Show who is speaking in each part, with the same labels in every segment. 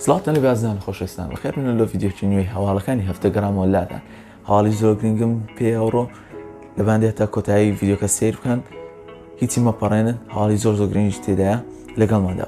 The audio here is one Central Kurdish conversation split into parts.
Speaker 1: سڵاوتان لێبێ ئازیزانی خۆشەویستان بەخێربێنن لەو ڤیدیۆی نوێی هەواڵەکانی هەفتە گەڕامەوە لاتان هەواڵی زۆر گرنگم پێ ئەوڕۆ لەبان دێت تا کۆتایی ڤیدیۆکە سیر بکەن هیچی مەپەڕێنن هەواڵی زۆر زۆر گرنگیش تێدایە لەگەڵماندا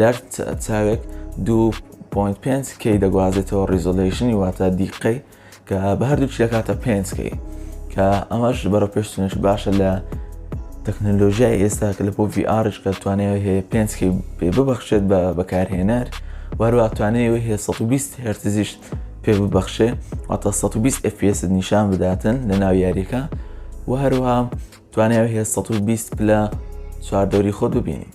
Speaker 1: لەر چاوێک دوو پۆینت پێنج کەی دەگوازێتەوە ڕیزۆلەیشنی واتە دیقەی کە بە هەردوو چ دەکاتە پێنج کەی کە ئەمەش بەرە پێشتنش باشە لە تەکنەلۆژیای ئێستا کە لە بۆ VRش کە توانێت هەیە پێنج کەی پێ ببەخشێت بە بەکارهێنەر وەروە توانێت هەیە 120 هەرتزیش پێ ببەخشێ واتە 120 FPS نیشان بداتن لە ناو یاریەکە و هەروها توانێت هەیە 120 پلە چواردەوری خۆت ببینی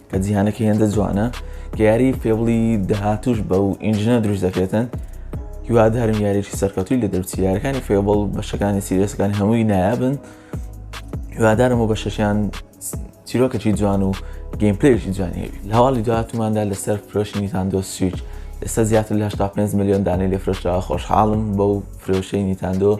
Speaker 1: کە جیهانەکە هێندە جوانە کە یاری فێبڵی داهاتوش بە و ئینجنە دروست دەکرێتن هیوادارم یاریی سەرکەتوی لە دەرچی یارەکانی فێبڵ بەشەکانی سیرێسەکان هەمووی نایابن هیوادارم و بە شەشیان چیرۆکەی جوان و گەیمپلێکی جوانی لە هەواڵی دواتماندا لەسەر فرۆشنی تاندۆ سویچ ئێستا زیاتر لە 5 میلیۆن دانەی لێ فرۆشتەوە خۆشحاڵم بەو فرۆشەی نیتاندۆ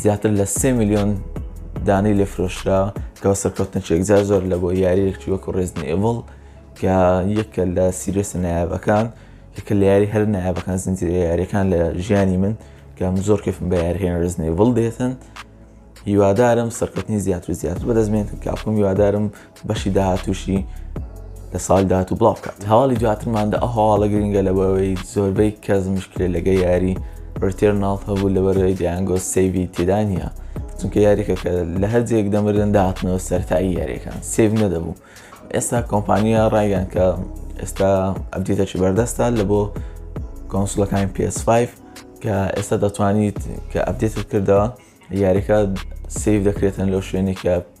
Speaker 1: زیاتر لە سێ ملیۆن دانەی لێ فرۆشرا کە بە سەرکەوتنێکی یەکجار زۆر لە بۆ یاریەکی وەکو ڕێزنی ئێڤڵ کە یەکە لە سیرێسە نایابەکان یەکە لە یاری هەر نایابەکان زنجیرە یاریەکان لە ژیانی من کەم زۆر کەفم بە یارهێن ڕێزنی ئێڤڵ دێتن هیوادارم سەرکەوتنی زیاتر و زیاتر بەدەستمێنن کاپم هیوادارم بەشی داهاتووشی لە ساڵی داهاتوو بڵاو بکات هەواڵی دواترمان دە ئەو هەواڵە گرنگە لەبەوەی زۆربەی کەس مشکلێ لەگە یاری ڕتێرناڵ هەبوو لەبەرەوەی دیانگۆ سەیوی تێدا نییە چونکە یاریەکە کە لە هەرجێک دەمردن داهاتنەوە سەرتایی یاریەکان سێڤ نەدەبوو ئێستا کۆمپانیا ڕایگەن کە ئێستا ئەبدیتەکی بەردەستا لە بۆ کۆنسلەکانی PS5 کە ئێستا دەتوانیت کە ئەبدێتت کردەوە یاریەکە سیف دەکرێتن لەو شوێنێکە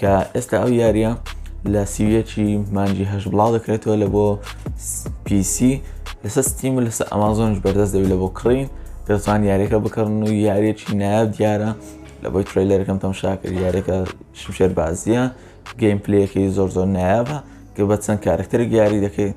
Speaker 1: کە ئێستا ئەو یاریە لە سیویەکی مانجی هەش بڵاو دەکرێتەوە لە بۆ PC لەسەر ستیم و لەسەر ئەمازۆنش بەردەست دەوی لە بۆ کڕین دەتوان یاریەکە بکڕن و یاریەکی نایاب دیارە لە بۆی ترلەرەکەم تەم شاکرد یاریەکە شمشێر بازیە گەیم پلەکەی زۆر زۆر نایابە کە بە چەند کارکتەر یاری دەکەیت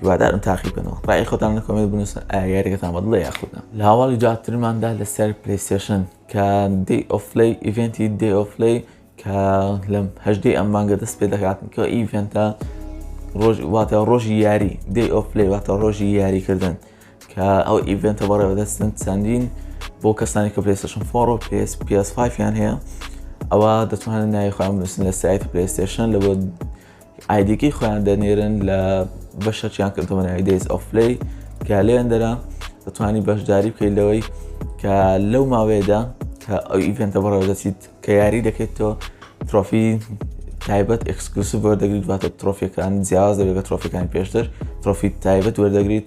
Speaker 1: هیوادارم تاقی بکەنەوە ڕای خۆتان لە کۆمێنت بنووسن ئایا یاریەکەتان بەدڵە یاخودا لە هەواڵی جاترماندا لەسەر پلیسێشن کە دی ئۆفلی ئیڤنتی دی ئۆفلی کە لەم هەشدەی ئەم مانگە دەست پێ دەکات کە ئیڤنتە ڕۆژ واتە ڕۆژی یاری دی ئۆفلی واتە ڕۆژی یاریکردن کە ئەو ئیڤنتە بەڕێوە دەستن چەندین بۆ کەسانی کە پلیسشن فۆڕ و پس پس5یان هەیە ئەوە دەتوانن ناوی خۆیان بنووسن لە سایت پلیستێشن لە بۆ ئایدیەکەی خۆیان دەنێرن لە بەشەکیان کە دۆنای دەیز ئۆفلی کە لێن دەرا دەتوانانی بەشداری بکەیت لەوەی کە لەو ماوەیەدا کە ئەو ئیڤێنتە بەڕێوە دەچیت کە یاری دەکەیت تۆ ترۆفی تایبەت ئەکسکلوسیڤ وەردەگریت واتە ترۆفیەکان جیاواز دەبێت بە ترۆفەکان پێشتر ترۆفی تایبەت وەردەگریت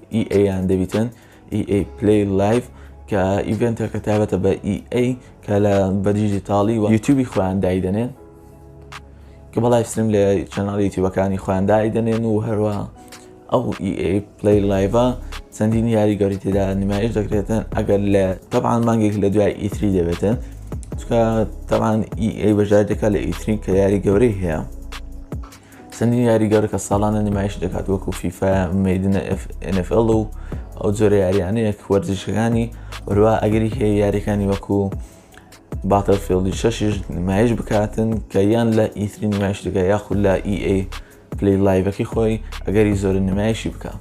Speaker 1: ئی ئەی یان دەبیتن ئی ئەی پلەی لایڤ کە ئیڤێنتەکە تابەتە بە ئی ئەی کە لە بەدیجی تاڵی و یوتیوبی خۆیان دایدەنێن کە بە لایفستریم لە چەناڵی یوتیوبەکانی خۆیان دایدەنێن و هەروە ئەو ئیئەی پلی لایڤە چەندین یاری گەوری تێدا نمایش دەکرێتن ئەگەر لە تەبان مانگێک لە دوای ئیتری دەبێتن چکە تەبان ئی بەژاردەکە لە ئیترین کە یاری گەورەی هەیە چەندین یاری گەورە کە ساڵانە نمایش دەکات وەکو فیفا میدنە NFL و ئەو جۆرە یاریانەیە وەرزشەکانی بەروا ئەگەری هەیە یاریەکانی وەکو باتەفێڵی شەشیش نمایش بکاتن کە یان لە ئیتری نمایش دەکە یاخود لە EA پلی لایڤەکەی خۆی ئەگەری زۆر نمایشی بکە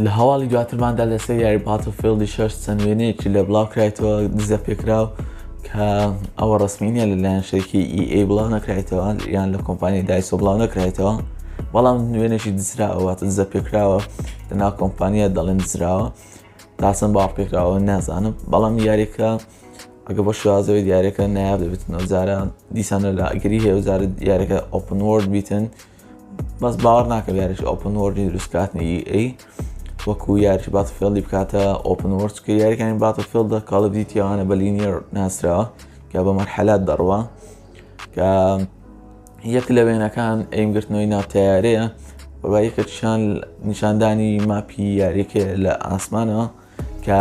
Speaker 1: لە هەواڵی دواترماندا لەسەر یاری باتڵفیڵدی شەش چەند وێنەیەکی لە بڵاوکرایتەوە دزە پێکراو کە ئەوە ڕسمی نیە لەلایەن شەرکی ئیئەی بڵاو نەکرایتەوە یان لە کۆمپانی دایسۆ بڵاو نەکرایتەوە بەڵام نوێنێکی دزراوە دزە پێکراوە لە ناو کۆمپانیا دەڵێن دزراوە تاسم باڵ پێکراوە نازانم بەڵام یاریەکە ئەگە بە شوازەوەی دیارەکە نایاب دەبێت نەوزارە دیسانە لە ئەگەری هێوزارە دیارەکە ئۆپن وۆرد بیتن بەس باوەڕ ناکەم یاریش ئۆپن وۆردی دروستکاتنی ئەی وەکو یاریش بات فێڵی بکاتە ئۆپن وۆرد کە یاریەکانی باتە فێڵدا کاڵب دیتیوانە بە لینیەر ناسراوە کە بە مەرحەلات دەڕوە کە یەک لە وێنەکان ئەیمگرتنەوەی ناوتەیارەیە بەبایکە چیان نیشاندانی ماپی یاریەکە لە ئاسمانەوە کە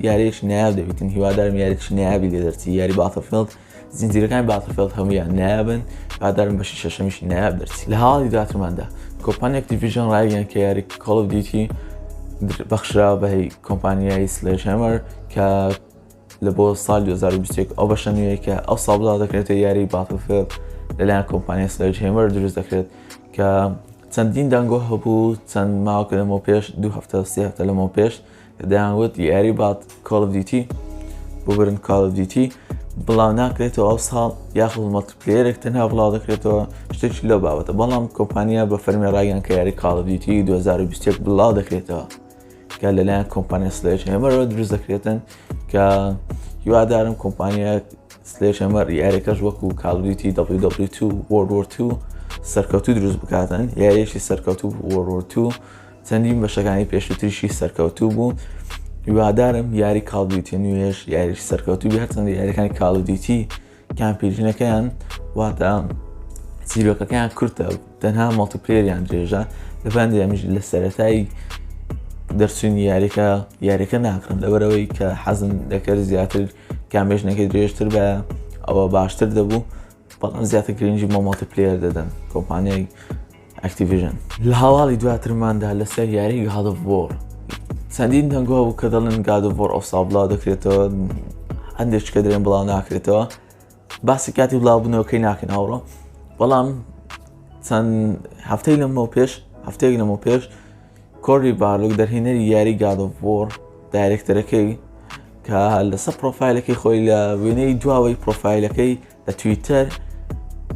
Speaker 1: یاریش نایاب دەبیتن هیوادارم یاریش نایابی لێ دەرچی یاری باتە فێڵد زنجیرەکانی باتڵفێڵد هەموویان نایابن، هیوادارم بەشی شەشەمیش نایاب دەرچی. لە هەواڵی دواترماندا، کۆمپانیای ئەکتیڤیژن ڕایگەیاند کە یاریی کۆڵ ئۆف دیوتی بەخشراوە بە کۆمپانیای سلێجهەمەر کە لە بۆ ساڵی 2021 ئەو بەشە نوێیە کە ئەوساڵ بڵاو دەکرێتە یاری باتڵفێڵد لەلایەن کۆمپانیای سلێجهەمەر دروست دەکرێت کە چەندین دەنگۆ هەبوو چەند ماوەکە لەمەو پێش دوو هەفتە سێ هەفتە لەمەو پێش دەیان وت یاری بات کۆڵ ئۆف دیوتی ببرن کاڵ ئۆف دیوتی بڵاو ناکرێتەوە ئەو ساڵ یاخود مەڵتیپلەیەرێک تەنها بڵاو دەکرێتەوە شتێکی لەو بابەتە بەڵام کۆمپانیا بە فەرمی ڕایان کە یاری کاڵ ئۆف دیوتی 2020 بڵاو دەکرێتەوە کە لەلایەن کۆمپانیا سلێش هێمەرەوە دروست دەکرێتن کە هیوادارم کۆمپانیا سلێش هێمەر یاریەکەش وەکو کاڵ ئۆف دیوتی WW2 World War 2 سەرکەوتوو دروست بکاتن یاریەکی سەرکەوتوو World War 2 چەندین بەشەکانی پێشووتریشی سەرکەوتوو بوو هیوادارم یاری کاڵدیوتی نوێش یاریش سەرکەوتوو بێ هەرچەندە یاریەکانی کاڵدیوتی کامپیژنەکەیان واتە سیرۆکەکەیان کورتە تەنها مەڵتیپلێریان درێژە لەبان دەمیژ لە سەتایی دەرچوونی یاریەکە یاریەکە ناکرم لەبەرەوەی کە حەزم دەکرد زیاتر کامێژنەکەی درێژتر بە ئەوە باشتر دەبوو بەڵام زیاتر گرنگی مۆمەڵتی پلێر دەدەن کۆمپانیای ئەکتیڤژن. لە هەواڵی دواترماندا لەسەر یاری گاد ئۆف وۆر چەندین دەنگ هەبوو کە دەڵێن گاد ئۆف وۆر ئەوساڵ بڵاو دەکرێتەوە، هەندێک کە دەڵێن بڵاو ناکرێتەوە، باسی کاتی بڵاوبوونەوەکەی ناکەین ئەوڕۆ، بەڵام چەند هەفتەی لەمەو پێش هەفتەیەک لەمەو پێش کۆری بارلوک دەرهێنەری یاری گاد ئۆف وۆر دایرێکتەرەکەی کە لەسەر پرۆفایلەکەی خۆی لە وێنەی دواوەی پرۆفایلەکەی لە تویتەر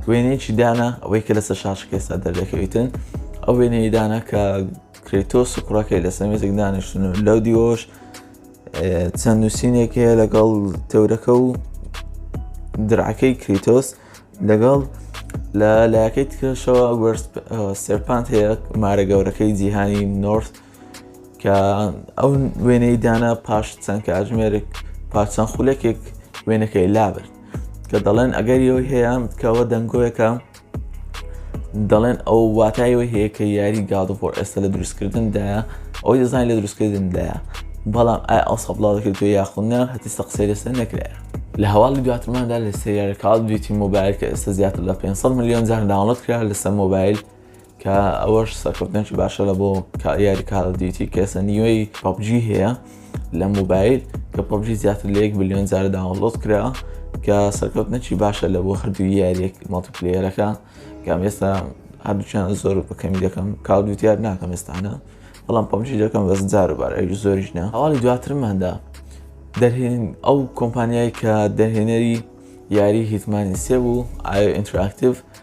Speaker 1: وێنەیەکی دانا ئەوەی کە لەسەر شاشەکە ئێستا دەردەکەویتن ئەو وێنەی دانا کە کرێتۆس و کوڕەکەی لەسەر مێزێک دانیشتن و لەو دیۆش چەند نووسینێک هەیە لەگەڵ تەورەکە و درعەکەی کریتۆس لەگەڵ لە لایەکەی تکەشەوە سەرپانت هەیە مارە گەورەکەی جیهانی نۆرت کە ئەو وێنەی دانا پاش چەند کاتژمێرێک پاچەند خولەکێک وێنەکەی لابرد کە دەڵێن ئەگەر یەوەی هەیە کەەوە دەنگۆیەکە دەڵێن ئەو واتایەوە هەیە کە یاری گادۆفۆ ئێستا لە دروستکردندایە ئەوی دەزانانی لە دروستکردندایە بەڵام ئای ئەو سەبڵاو دەکرێت تۆ یاخونە هەتی سەقسەی لەسەر نەکرێت لە هەواڵی دواتماندا لە سریارە کاڵ دویتی مۆبایل کە ئێستا زیاتر لە 500 میلیۆن جار داڵت کرا لەسەر مۆبایل کە ئەوەش سەرکەوتنێکی باشە لە بۆ یاری کارە دیوتی کەسە نیوەی پبجی هەیە لە موبایل کە پبجی زیاتر لە یەک بلیۆن جارە داوەڵۆت کرا کە سەرکەوتنەکی باشە لە بۆ هەردوو یاریەک مەڵتیپلێرەکە کام ئێستا هەردووچیان زۆر بەکەمی دەکەم کاو دوتیار ناکەم ئێستانە بەڵام پبجی دەکەم بەس جار بار ئەوی زۆریش نە هەواڵی دواترماندا دەرهێن ئەو کۆمپانیای کە دەهێنەری یاری هیتمانی سێ بوو ئایا ئینتراکتیڤ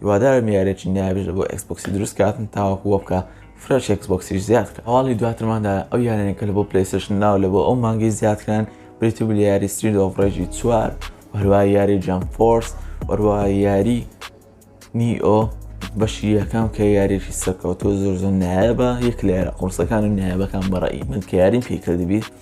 Speaker 1: هیوادارم یاریەکی نایابیش بۆ ئێکسبۆکسی دروست کاتن تاوەکو وە بکا فرە چێکس بۆکسیش زیاد کە هەواڵی دواترمان دا ئەو یارانە کە لە بۆ پلەیسشن ناو لە بۆ ئەو مانگەی زیادکران بریتی بوو لە یاری سترید ئۆف ڕێژی چوار هەروای یاری جام فۆرس وەروای یاری نیئۆ بەشی یەکەم کە یاریێکی سەرکەوتۆ زۆر زۆر نایە بە یەک لە یارە قڕسەکان و نایەبەکان بەڕی من کە یاریم پێکردبییت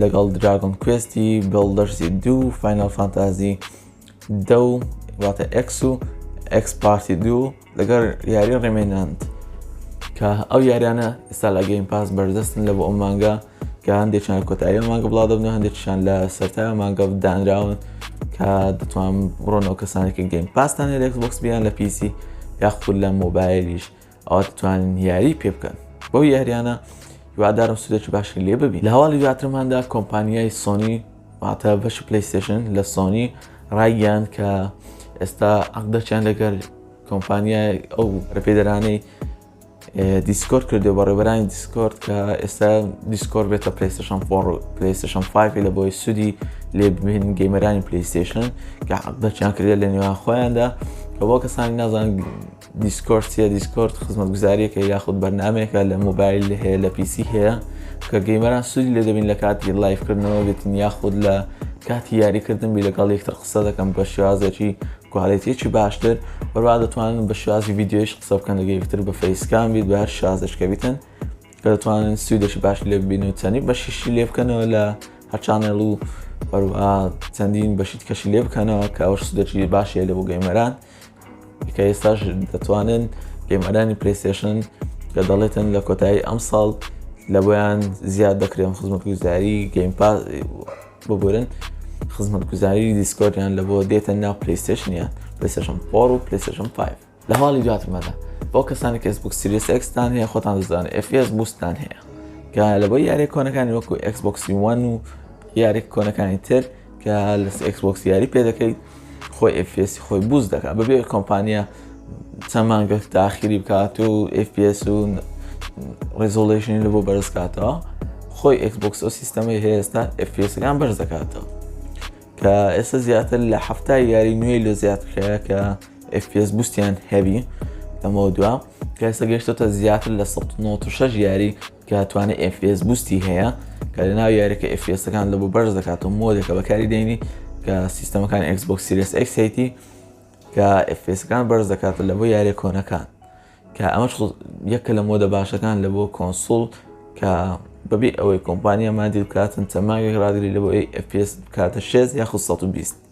Speaker 1: لەگەڵ دراگۆن کوێستی بڵدەرسی دوو فینال فانتازی دە و واتە ئەکس و ئەکس پارتی دوو لەگەر یاری ڕێمێناند کە ئەو یاریانە ئستا لە گەیم پاس بەردەستن لە بۆ ئەو مانگە کە هەندێکیان کۆتایی مانگە بڵا دەبن هەندێکیان لە سەرتا مانگە دانراون کە دەتوان بڕۆنەوە کەسانێکی گەیم پاستانە لەکس بۆکس بیان لە پیسی یاخود لە مۆبایلیش ئەوا دەتوانن یاری پێ بکەن بەو یاریانە هیوادارم سودێکی باشی لێ ببی لە هەواڵی دواترماندا کۆمپانیای سۆنی واتە بەشی پلیستشن لە سۆنی ڕایگەیان کە ئێستا عقدەچیان لەگەر کۆمپانیای ئەو ڕپێدەرانەی دیسکۆر کردو بە ڕێبەرانی دیسکۆرد کە ئێستا دیسکۆر بێتە پلیستشن فۆڕ پلیستشن 5 لە بۆی سوودی لێ ببین گەیمەرانی پلیستشن کە عقدەچیان کردێت لە نێوان خۆیاندا کە بۆ کەسانی نازان دیسکۆرد چیە؟ دیسکۆرد خزمەتگوزاریەکە یاخود بەرنمەیەکە لە مۆبایل لە هەیە لە پیسی هەیە کە گەیمەران سوودی لێ دەبین لە کاتی لایفکردنەوە بێتین یاخود لە کاتی یاریکردن بی لەگەڵ یەکتر قسە دەکەم بە شێوازێکی کوالێتێکی باشتر بەروا دەتوانن بە شێوازی یددیوش قسە بکەن لەگە یەکتر بە فەیسکان بیت بە هەر شازشکە بیتن کە دەتوانن سوودێکی باش لێ ببین و چەنی بەشیشی لێ بکەنەوە لە هەرچانێڵ و بەروە چەندین بەشیت کەشی لێ بکەنەوە کە ئەوش سودەکی باشە لە بۆ گەیمەران. کە ئێستاش دەتوانن گەیمەرانی پرستێشن کە دەڵێتن لە کۆتایی ئەم ساڵ لە بۆیان زیاد دەکرێن خزمەت گوزاری گەیم پاس ببورن خزمەت گوزاری دیسکۆریان لە بۆ دێتە ناو پلیستشنیان پلیستشن پۆڕ و پلیستشن 5 لە حاڵی دواتمەدا بۆ کەسانی کەس بوک سریس ئەکستان هەیە خۆتان دەزانن ئفS بوستان هەیە کە لە بۆ یاری کۆنەکانی وەکو ئەکسبکسی وان و یاری کۆنەکانی تر کە لە ئێکس بۆکس یاری پێ دەکەیت خۆی ئفسی خۆی بوز دەکات بەبێ کۆمپانیا چەند مانگە تاخیری بکات و FPS و ڕێزۆڵێشنی لە بۆ بەرز کاتەوە خۆی ئەکسبکس و سیستەمی هێستا ئەفسەکان بەرز دەکاتەوە کە ئێستا زیاتر لە هەفتای یاری نوێی لە زیاد کرایە کە FPS بوستیان هەبی لەمە دوا کەسە گەشتۆتە زیاتر لە 1996 یاری کە توانە FPS بوستی هەیە کە لە ناو یاریەکە FPSەکان لە بۆ بەرز دەکات و مۆدەکە بەکاری دێنی کە سیستەمەکان Xbox Series X هەیتی کە FPSەکان بەرز دەکات لە بۆ یاری کۆنەکان کە ئەمەش یەکە لە مۆدە باشەکان لە بۆ کۆنسول کە بەبێ ئەوەی کۆمپانیامان دیل بکاتن چەماگەک ڕاگری لە بۆ FPS بکاتە 6 یاخود 120